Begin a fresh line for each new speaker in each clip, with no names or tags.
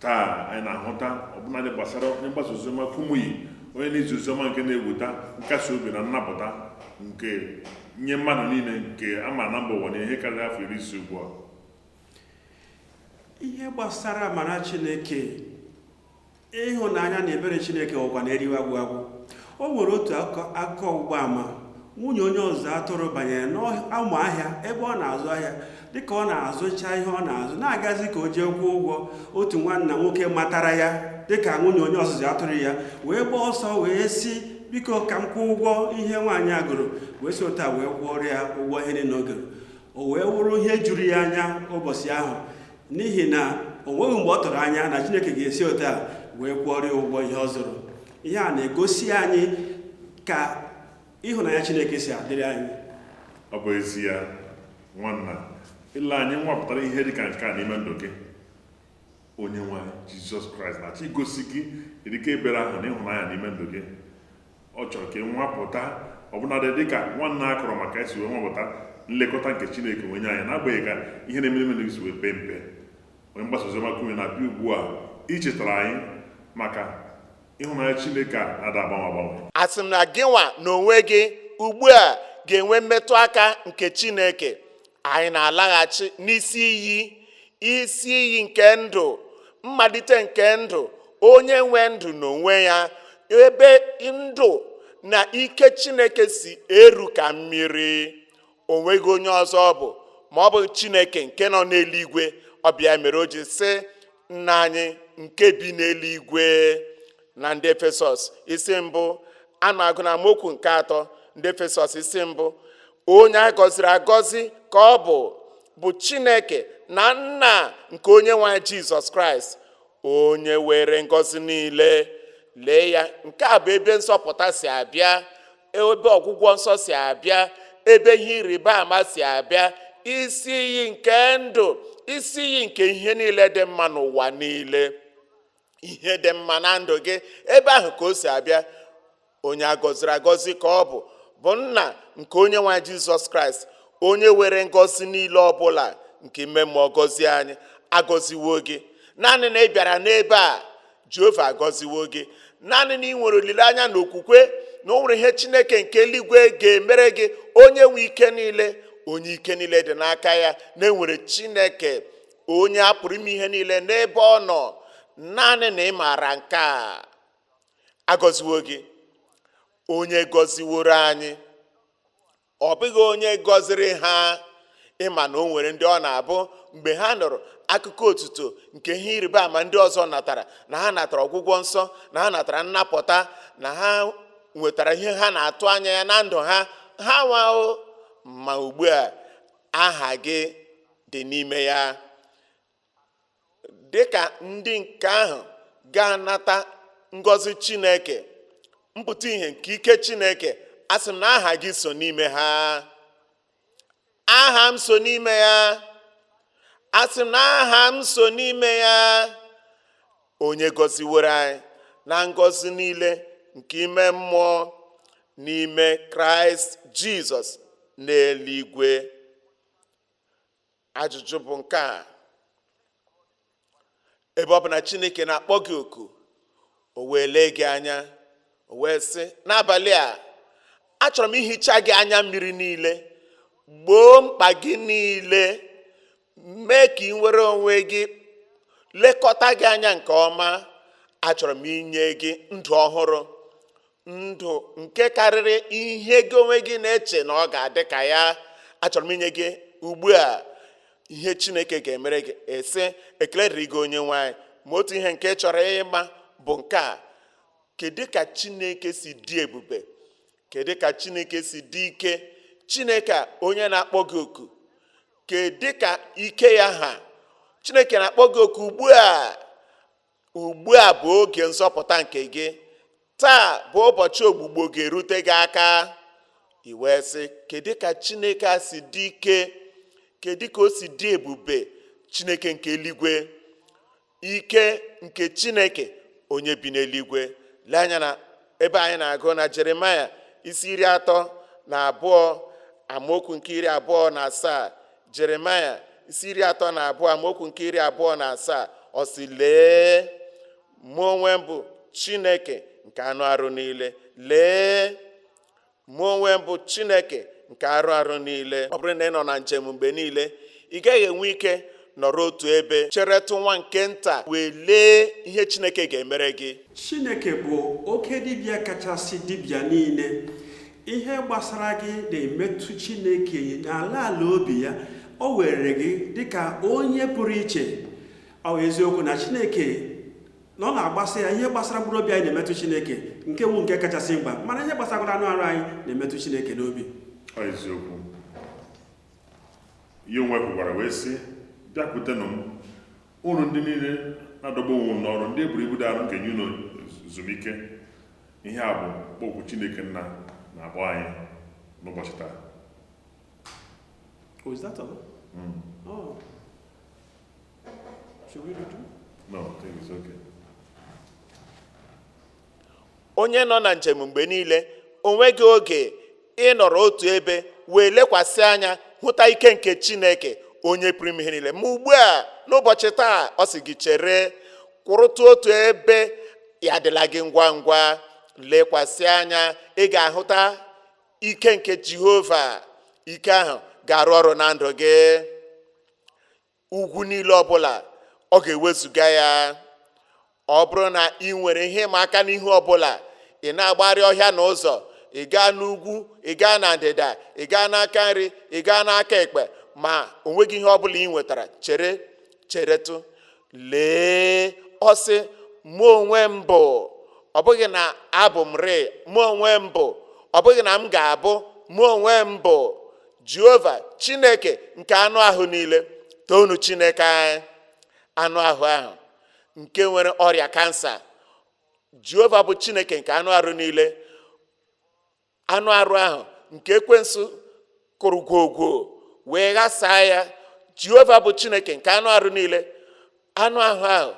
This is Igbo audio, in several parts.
taa anyị na-ahụta ọbụnadị gbasara onye mgbasa oziọma Kumuyi onye na-ezi oziọma nke na-eweta nkasi obi na nnapụta nke nye mmadụ niile nke a ma na mba ụwa na ihe karịrị afọ iri ise ugbu
a ihe gbasara amara Chineke ịhụnanya na ebere Chineke ọkwa na-eriwe agwụ agwụ O nwere otu akụkọ ọgbụgba ama nwunye onye ọzụzụ atụrụ banyere n'ụlọ ahịa ebe ọ na-azụ ahịa dịka ọ na-azụcha ihe ọ na-azụ na-agazi ka o jee kwụọ ụgwọ otu nwanna nwoke matara ya dịka nwunye onye ọzụzụ atụrụ ya wee gbaa ọsọ wee sị biko ka m kwụọ ụgwọ ihe nwaanyị a goro wee si otu a wee kwụọrọ ya ụgwọ ihe niile o goro o wee wụrụ ihe juru ya anya ụbọchị ahụ n'ihi na o nweghị mgbe ọ tụrụ anya na Chineke ga-esi otu a wee kwụọrọ ya ụgwọ ihe ọ zụrụ ihe a na-egosi anyị ka ịhụnanya Chineke si adịrị anyị ọ
bụ ezie nwanna ile anya ịnwapụta ihe dị ka nke a n'ime ndụ gị onye nwe anyị jizọs kraịst na-achọ igosi gị dịka ebere ahụ na ịhụnanya n'ime ndụ gị ọ chọrọ ka ị nwapụta ọbụnadị dị ka nwanna a kọrọ maka esi wee nwapụta nlekọta nke chineke na-enye anyị n'agbanyeghị ka ihe na-eme n'ime ndụ gị si wee pee mpe onye mgbasa oziọma Kumuyi na-abịa ugbu a ichetara anyị maka ịhụnanya Chineke a na-ada agbanwe agbanwe asị m na gịnwa
n'onwe gị ugbu a ga-enwe mmetụ aka nke Chineke anyị na-alaghachi n'isi iyi isi iyi nke ndụ mmalite nke ndụ onye nwe ndụ n'onwe ya ebe ndụ na ike Chineke si eru ka mmiri o nweghị onye ọzọ ọ bụ ma ọ bụ chineke nke nọ n'eluigwe ọ bụ ya mere o ji sị nna anyị nke bi n'eluigwe na ndị efesọs isi mbụ a na-agụ na amaokwu nke atọ ndị efesọs isi mbụ onye a gọziri agọzi ka ọ bụ bụ chineke na nna nke onye nwe anyị jizọs kraịst onye were ngọzi niile lee ya nke a bụ ebe nsọpụta si abịa ebe ọgwụgwọ nsọ si abịa ebe ihe ịrịba ama si abịa isi iyi nke ndụ isi iyi nke ihe niile dị mma n'ụwa niile ihe dị mma na ndụ gị ebe ahụ ka o si abịa onye agọziri agọzi ka ọ bụ bụ nna nke onye nwe anyị jizọs kraịst onye were ngọzi niile ọbụla nke ime mmụọ gọzie anyị agọziwo gị naanị na ị bịara n'ebe a jehova agọziwo gị naanị na ị nwere olileanya na okwukwe na o nwere ihe chineke nke eluigwe ga-emere gị onye nwe ike niile onye ike niile dị n'aka ya na e nwere chineke onye a pụrụ ime ihe niile n'ebe ọ nọ naanị na ị maara nke a agọziwo gị onye gọziworo anyị ọ bụghị onye gọziri ha ị ma na o nwere ndị ọ na-abụ mgbe ha nụrụ akụkọ otuto nke ihe ịrịba ama ndị ọzọ natara na ha natara ọgwụgwọ nsọ na ha natara nnapụta na ha nwetara ihe ha na-atụ anya ya na ndụ ha ha nwao ma ugbu a aha gị dị n'ime ya dịka ndị nke ahụ ga-anata ngọzi chineke mpụta ihe nke ike chineke asị m na aha gị so n'ime ha aha m so n'ime ya asị m na aha m so n'ime ya onye gọziworo anyị na ngọzi niile nke ime mmụọ n'ime kraịst jizọs n'eluigwe ajụjụ bụ nke a ebe ọ bụ na chineke na-akpọ gị oku o wee lee gị anya o wee sị n'abalị a achọrọ m ihicha gị anya mmiri niile gboo mkpa gị niile mee ka i nwere onwe gị lekọta gị anya nke ọma achọrọ m inye gị ndụ ọhụrụ ndụ nke karịrị ihe gị onwe gị na-eche na ọ ga-adị ka ya achọrọ m inye gị ugbu a ihe chineke ga-emere gị ị sị ekele dịrị gị onye nwe anyị ma otu ihe nke ị chọrọ ịma bụ nke a kedu ka chineke si dị ebube kedu ka chineke si dị ike chineke a onye na-akpọ gị oku kedu ka ike ya ha chineke na-akpọ gị oku ugbu a ugbu a bụ oge nzọpụta nke gị taa bụ ụbọchị ọgwụgwọ ga-erute gị aka i wee sị kedu ka chineke a si dị ike kedu ka o si dị ebube chineke nke eluigwe ike nke chineke onye bi n'eluigwe lee anya n'ebe anyị na-agụ na jeremaya isi iri atọ na abụọ amaokwu nke iri abụọ na asaa jeremaya isi iri atọ na abụọ amaokwu nke iri abụọ na asaa ọ sị lee mụ onwe m bụ chineke nke anụ arụ niile lee mụ onwe m bụ chineke nke arụ arụ niile ọ bụrụ na ị nọ na njem mgbe niile ị gaghị enwe ike nọrọ otu ebe cheretụ nwa nke nta wee lee ihe chineke ga-emere gị chineke bụ
oke dibịa kachasị dibịa niile ihe gbasara gị na-emetụ Chineke n'ala ala obi ya o were gị dịka onye pụrụ iche ọ eziokwu na Chineke na ọ na-agbasa ya ihe gbasara mkpụrụ obi anyị na-emetụ Chineke nke bụ nke kachasị mkpa mana ihe gbasara anụ arụ anyị na-emetụ Chineke n'obi
eziokwu ya onwe kwukwara wee sị bịakwutenụ m ụnụ ndị niile na-adọgbu onwe unu n'ọrụ ndị e boro ibu dị arụ m ga-enye unu ezumike ihe a bụ mkpọku chineke nna na-akpọ anyị n'ụbọchị taa
Oh, is that all? Mm. Oh. Should we do two? no I think it's
okay.
onye nọ na njem mgbe niile o nweghị oge ịnọrọ otu ebe wee lekwasị anya hụta ike nke chineke onye pụrụ ime ihe niile ma ugbu a n'ụbọchị taa ọ sị gị chere kwụrụtụ otu ebe ya adịla gị ngwa ngwa lekwasị anya ị ga-ahụta ike nke jehova ike ahụ ga-arụ ọrụ na ndụ gị ugwu niile ọbụla ọ ga-ewezụga ya ọ bụrụ na ị nwere ihe ịma aka n'ihe ọbụla ị na-agbagharị ọhịa na ụzọ ị gaa n'ugwu ị gaa na ndịda ị gaa n'aka nri ị gaa n'aka ekpe ma o nweghị ihe ọbụla ị nwetara chere cheretụ lee ọ sị mụ onwe m bụ ọ bụghị na abụ m rịị mụ onwe m bụ ọ bụghị na m ga-abụ mụ onwe m bụ jehova chineke nke anụ ahụ niile toonu chineke anyị anụ ahụ ahụ nke nwere ọrịa kansa jehova bụ chineke nke anụ arụ niile anụ arụ ahụ nke ekwensu kụrụ gwogwo wee ghasaa ya jehova bụ chineke nke anụ arụ niile anụ ahụ ahụ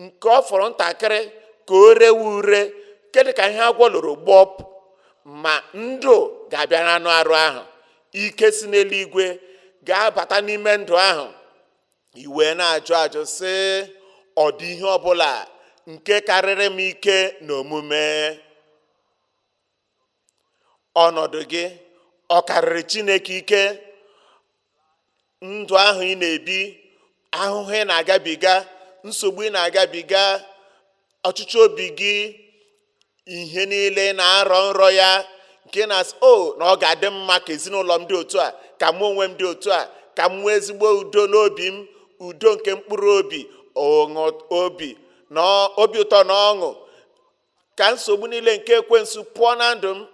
nke ọ fọrọ ntakịrị ka o rewe ure nke dị ka ihe agwọ loro gbọpụ ma ndụ ga-abịa n'anụ arụ ahụ ike si n'eluigwe ga-abata n'ime ndụ ahụ e wee na-ajụ ajụ sị ọ dị ihe ọbụla nke karịrị m ike na omume ọnọdụ gị ọ karịrị chineke ike ndụ ahụ ị na-ebi ahụhụ ị na-agabiga nsogbu ị na-agabiga ọchịchọ obi gị ihe niile ị na-arọ nrọ ya nke na-asị o oh, na ọ ga-adị mma ka ezinụlọ m dị otu a ka mụ onwe m dị otu a ka m nwee ezigbo udo n'obi m udo nke mkpụrụ obi obi na obi ụtọ na ọṅụ ka nsogbu niile nke ekwensu pụọ na ndụ m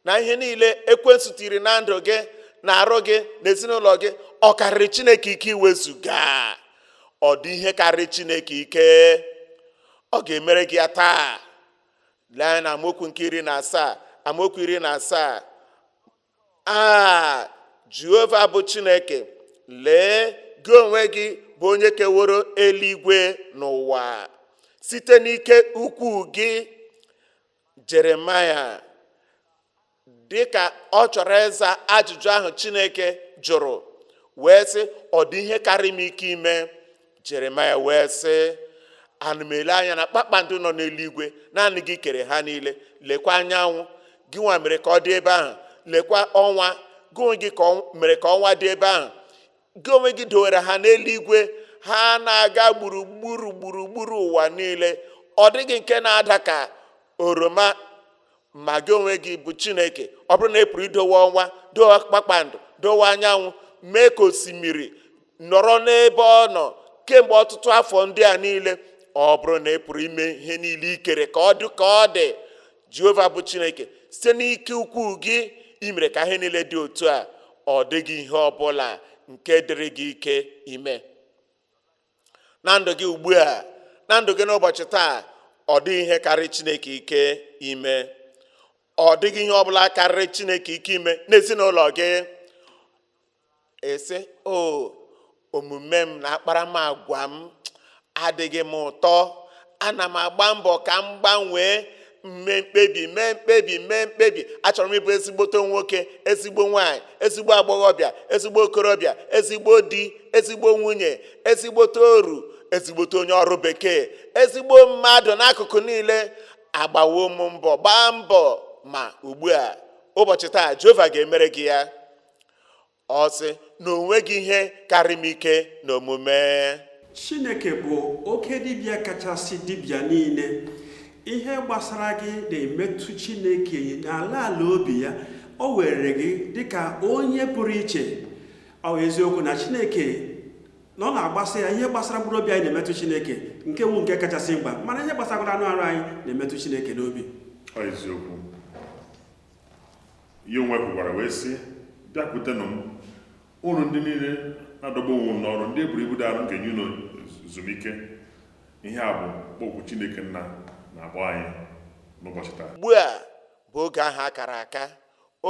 na ihe niile ekwensu tiiri na ndụ gị na arụ gị na ezinụlọ gị ọ karịrị chineke ike iwezuga ọ dị ihe karịrị chineke ike ọ ga-emere gị ya taa lee anya na amaokwu nke iri na asaa amaokwu iri na asaa a jehova bụ chineke lee gị onwe gị bụ onye keworo eluigwe na ụwa site n'ike ukwu gị jeremaya dị ka ọ chọrọ ịza ajụjụ ahụ chineke jụrụ wee sị ọ dị ihe karị m ike ime jeremaya wee sị ana m ele anya na kpakpando nọ n'eluigwe naanị gị kere ha niile lekwa anyanwụ gị nwa mere ka ọ dị ebe ahụ lekwa ọnwa gị onwe gị mere ka ọnwa dị ebe ahụ gị onwe gị dowere ha n'eluigwe ha na-aga gburugburu gburugburu ụwa niile ọ dịghị nke na-ada ka oroma ma gị onwe gị bụ chineke ọ bụrụ na ị pụrụ idowe ọnwa dowe kpakpando dowe anyanwụ mee ka osimiri nọrọ n'ebe ọ nọ kemgbe ọtụtụ afọ ndị a niile ọ bụrụ na ị pụrụ ime ihe niile i kere ka ọ dị ka ọ dị jehova bụ chineke site n'ike ukwu gị i mere ka ihe niile dị otu a ọ dịghị ihe ọ bụla nke dịrị gị ike ime na ndụ gị ugbu a na ndụ gị n'ụbọchị taa ọ dịghị ihe karịrị chineke ike ime ọ dịghị ihe ọbụla karịrị chineke ike ime n'ezinụlọ gị ị sị o omume m na akparamagwa m adịghị m ụtọ ana m agba mbọ ka m gbanwee m mee mkpebi mee mkpebi mee mkpebi achọrọ m ịbụ ezigbote nwoke ezigbo nwanyị ezigbo agbọghọbịa ezigbo okorobịa ezigbo di ezigbo nwunye ezigbote oru ezigbote onye ọrụ bekee ezigbo mmadụ n'akụkụ niile agbawo m mbọ gbaa mbọ ma ugbu a ụbọchị taa jehova ga-emere gị ya ọ sị na o nweghị ihe karị m ike n'omume chineke
bụ oke dibịa kachasị dibịa niile ihe gbasara gị na-emetụ chineke n'ala ala obi ya o were gị dịka onye pụrụ iche ọ eziokwu na chineke na ọ na-agbasa ya ihe gbasara mkpụrụ obi anyị na-emetụ chineke nke wu nke kachasị mkpa mana ihe gbasara anụ arụ anyị na-emetụ chineke n'obi eziokwu
ya onwe kwukwara wee sị bịakwutenụ m unu ndị niile na-adọgbu onwe unu n'ọrụ ndị e boro ibu dị arụ m ga-enye unu ezumike ihe a bụ oku chineke nna na-akpọ anyị n'ụbọchị taa ugbu a
bụ oge ahụ a kara aka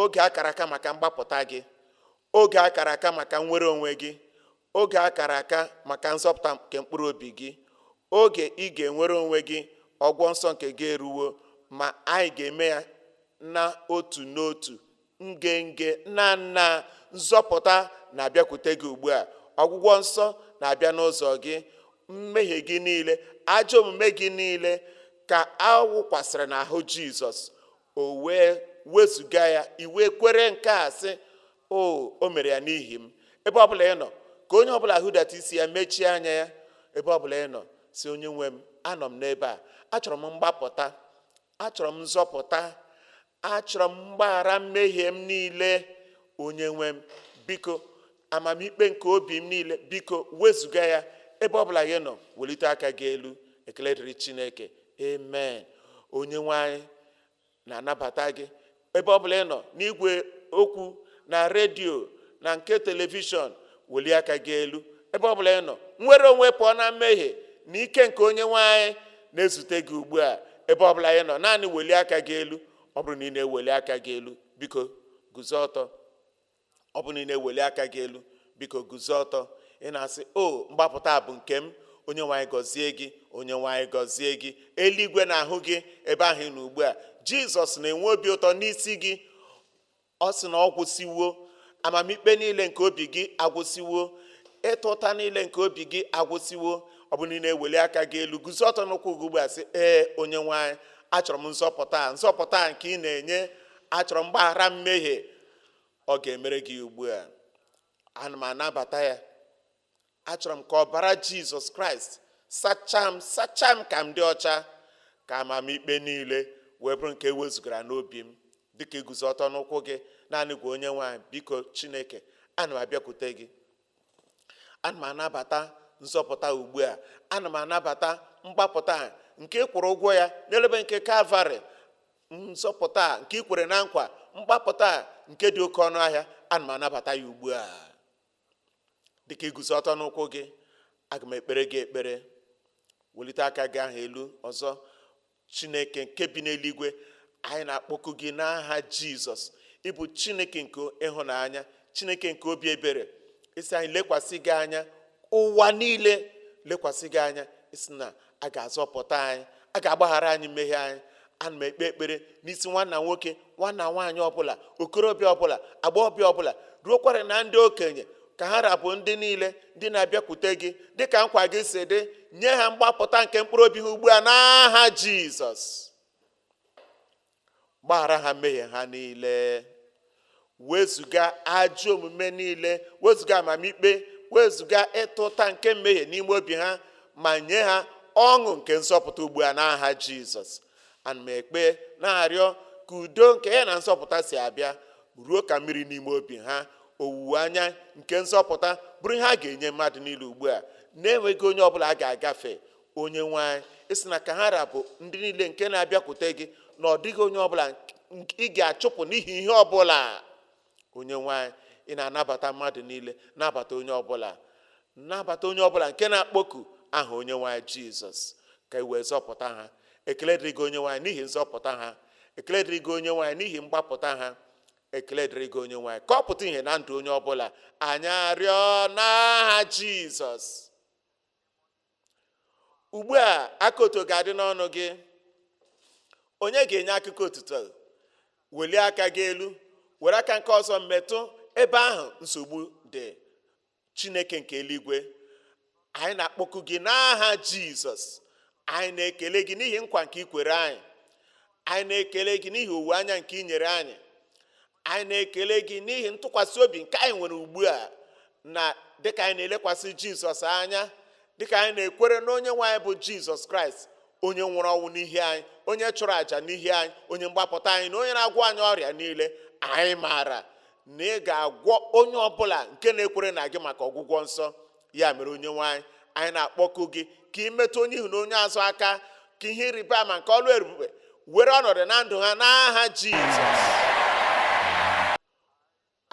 oge a kara aka maka mgbapụta gị oge a kara aka maka nnwere onwe gị oge a kara aka maka nzọpụta nke mkpụrụ obi gị oge ị ga-enwere onwe gị ọgwụgwọ nsọ nke gị eruwo ma anyị ga-eme ya na otu n'otu nge nge nnaa nnaa nzọpụta na-abịakwute gị ugbu a ọgwụgwọ nsọ na-abịa n'ụzọ gị mmehie gị niile ajọ omume gị niile ka a wụkwasịrị n'ahụ jizọs o wee wezụga ya i wee kwere nke a sị o o mere ya n'ihi m ebe ọbụla ị nọ ka onye ọbụla hudata isi ya mechie anya ya ebe ọbụla ị nọ sị onye nwe m anọ m n'ebe a achọrọ m mgbapụta achọrọ m nzọpụta achọrọ m mgbaghara mmehie m niile onye nwe m biko amamikpe nke obi m niile biko wezụga ya ebe ọbụla ị nọ welite aka gị elu ekele dịrị chineke amen onye nwe anyị na-anabata gị ebe ọ bụla ị nọ n'igwe okwu na redio na nke telivishọn welie aka gị elu ebe ọ bụla ị nọ nnwere onwe pụọ na mmehie na ike nke onye nwe anyị na-ezute gị ugbu a ebe ọ bụla ị nọ naanị welie aka gị elu ọ bụrụ na ị na-eweli aka gị elu biko guzo ọtọ ọ bụ na ị na-eweli aka gị elu biko guzo ọtọ ị na-asị o mgbapụta a bụ nke m onye nwe anyị gọzie gị onye nwe anyị gọzie gị eluigwe na-ahụ gị ebe ahụ ị nọ ugbu a jizọs na-enwe obi ụtọ n'isi gị ọ sị na ọ gwụsịwo amamikpe niile nke obi gị agwụsịwo ịta ụta niile nke obi gị agwụsịwo ọ bụ na ị na-eweli aka gị elu guzo ọtọ n'ụkwụ gị ugbu a sị ee onye nwe anyị achọrọ m nzọpụta nzọpụta a nke ị na-enye achọrọ m mgbaghara mmehie ọ ga-emere gị ugbu a ana m anabata ya achọrọ m ka ọbara jizọs kraịst sachaa m sachaa m ka m dị ọcha ka amamikpe niile wee bụrụ nke e wezugara n'obi m dịka i guzo ọtọ n'ụkwụ gị naanị gwa onye nwe anyị biko chineke ana m abịakwute gị ana m anabata nzọpụta ugbu a ana m anabata mgbapụta nke ị kwụrụ ụgwọ ya n'elu obe nke kalvarị nzọpụta a nke i kwere na nkwa mgbapụta a nke dị oke ọnụ ahịa ana m anabata ya ugbu a dịka i guzo ọtọ n'ụkwụ gị aga m ekpere gị ekpere welite aka gị ahụ elu ọzọ chineke nke bi n'eluigwe anyị na-akpọku gị n'aha jizọs ị bụ chineke nke ịhụnanya chineke nke obi ebere ị sị anyị lekwasị gị anya ụwa niile lekwasị gị anya ị sị na a ga-azọpụta anyị a ga-agbaghara anyị mmehie anyị ana m ekpe ekpere n'isi nwanna nwoke nwanna nwaanyị ọbụla okorọbịa ọbụla agbọghọbịa ọbụla ruokwara na ndị okenye ka ha ra bụ ndị niile ndị na-abịakwute gị dịka nkwa gị si dị nye ha mgbapụta nke mkpụrụ obi ha ugbu a n'aha jizọs gbaghara ha mmehie ha niile wezụga ajọ omume niile wezụga amamikpe wezụga ịta ụta nke mmehie n'ime obi ha ma nye ha ọṅụ nke nzọpụta ugbu a n'aha jizọs ana m ekpe na-arịọ ka udo nke ya na nzọpụta so abịa ruo ka mmiri n'ime obi ha owuwe anya nke nzọpụta bụrụ ihe a ga-enye mmadụ niile ugbu a na-enweghị onye ọbụla a ga-agafe onye nwe anyị ị sị na ka ha ra bụ ndị niile nke na-abịakwute gị na ọ dịghị onye ọbụla ị ga-achụpụ n'ihi ihe ọbụla onye nwe anyị ị na-anabata mmadụ niile nabata onye ọbụla nabata onye ọbụla nke na-akpọku aha onye nwe anyị jizọs ka i wee zọpụta ha ekele dịrị gị onye nwe anyị n'ihi nzọpụta ha ekele dịrị gị onye nwe anyị n'ihi mgbapụta ha ekele dịrị gị onye nwe anyị ka ọ pụta ihe na ndụ onye ọbụla anyị arịọ n'aha jizọs ugbu a akụkọ otuto ga-adị n'ọnụ gị onye ga-enye akụkọ otuto welie aka gị elu were aka nke ọzọ metụ ebe ahụ nsogbu dị chineke nke eluigwe anyị na-akpọku gị n'aha jizọs anyị na-ekele gị n'ihi nkwa nke i kwere anyị anyị na-ekele gị n'ihi olileanya nke i nyere anyị anyị na-ekele gị n'ihi ntụkwasị obi nke anyị nwere ugbu a na dịka anyị na-elekwasị jizọs anya dịka anyị na-ekwere na onye nwe anyị bụ jizọs kraịst onye nwụrụ ọnwụ n'ihi anyị onye chụrụ àjà n'ihi anyị onye mgbapụta anyị na onye na-agwọ anyị ọrịa niile anyị maara na ị ga-agwọ onye ọbụla nke na-ekwere na gị maka ọgwụgwọ nsọ ya mere onye nwe anyị anyị na-akpọku gị ka ị metụ onye ihu na onye azụ aka ka ihe ịrịba ama nke ọlụ ebube were ọnọdụ na ndụ ha n'aha jizọs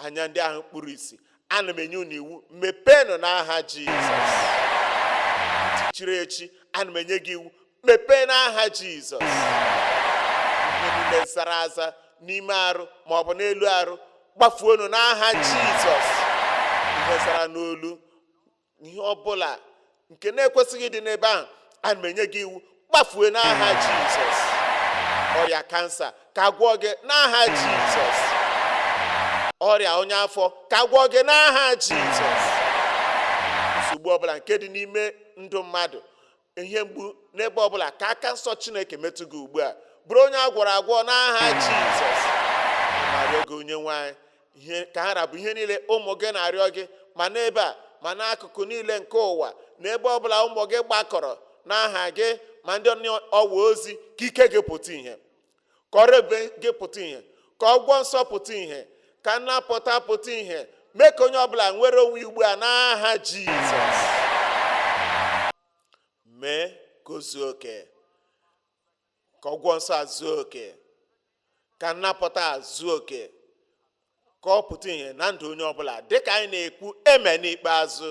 anya ndị ahụ kpuru ìsì ana m enye unu iwu mepeenụ n'aha jizọs ntị chiri echi ana m enye gị iwu mepee n'aha jizọs ihe niile zara aza n'ime arụ ma ọ bụ n'elu arụ gbafuenụ n'aha jizọs ihe zara n'olu ihe ọbụla nke na-ekwesịghị ịdị n'ebe ahụ ana m enye gị iwu gbafue n'aha jizọs ọrịa kansa ka a gwọọ gị n'aha jizọs ọrịa ọnya afọ ka a gwọọ gị n'aha jizọs nsogbu ọbụla nke dị n'ime ndụ mmadụ ihe mgbu n'ebe ọbụla ka aka nsọ chineke metụ gị ugbu a bụrụ onye a gwọrọ agwọ n'aha jizọs ana m arịọ gị onye nwe anyị ka ha ra bụ ihe niile ụmụ gị na-arịọ gị ma n'ebe a ma n'akụkụ niile nke ụwa n'ebe ọbụla ụmụ gị gbakọrọ n'aha gị ma ndị n'ọwa ozi ka ike gị pụta ihe ka ọrụ ebube gị pụta ihe ka ọgwụgwọ nsọ pụta ihe ka nnapụta pụta ihe mee ka onye ọbụla nwere onwe ugbu a n'aha jizọs mee ka o zuo oke ka ọgwụgwọ nsọ a zuo oke ka nnapụta a zuo oke ka ọ pụta ihe na ndụ onye ọbụla dịka anyị na-ekwu amen ikpeazụ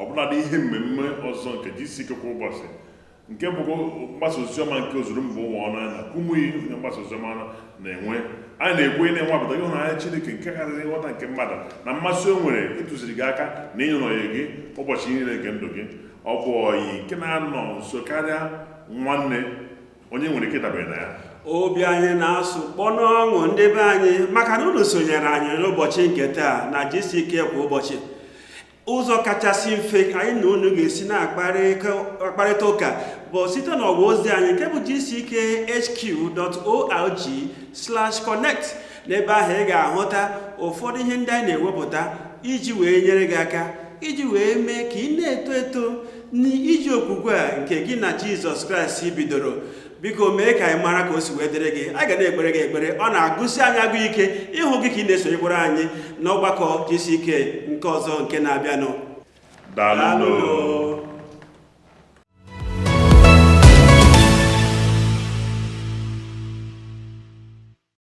ọbụladị ihe mmemme ọzọ nke gck kwa ụbọchị nke bụkwa mgbasa oziọma nke ozuru mba ụwa ọnụ anyị na kumuyi onye mgbasa oziọma na-enwe anyị na-ekwu ị na-anwapụta ịhụnanya Chineke nke karịrị nghọta nke mmadụ na mmasị o nwere ịtụziri gị aka na ịnọnyere gị ụbọchị niile nke ndụ gị ọ bụ ọyị nke na-anọ nso karịa nwanne onye nwere ike dabere na ya obi anyị
na-asụ kpọnụ ọṅụ ndị be anyị maka na unu sonyere anyị n'ụbọchị nke taa na gck kwa ụbọchị ụzọ kachasị mfe anyị na unu ga-esi na-akparịta ụka bụ site n'ọwa ozi anyị nke bụ gckhq.org slash connect n'ebe ahụ ị ga-ahụta ụfọdụ ihe ndị anyị na-ewepụta iji wee nyere gị aka iji wee mee ka ị na-eto eto n'ije okwukwe a nke gị na jizọs kraịst bidoro biko mee ka anyị mara ka o si wee dịrị gị a ga na-ekpere gị ekpere ọ na-agụsi anyị agụ ike ịhụ gị ka ị na-esonyekwara anyị n'ọgbakọ gck nke ọzọ nke na-abịanụ daalụ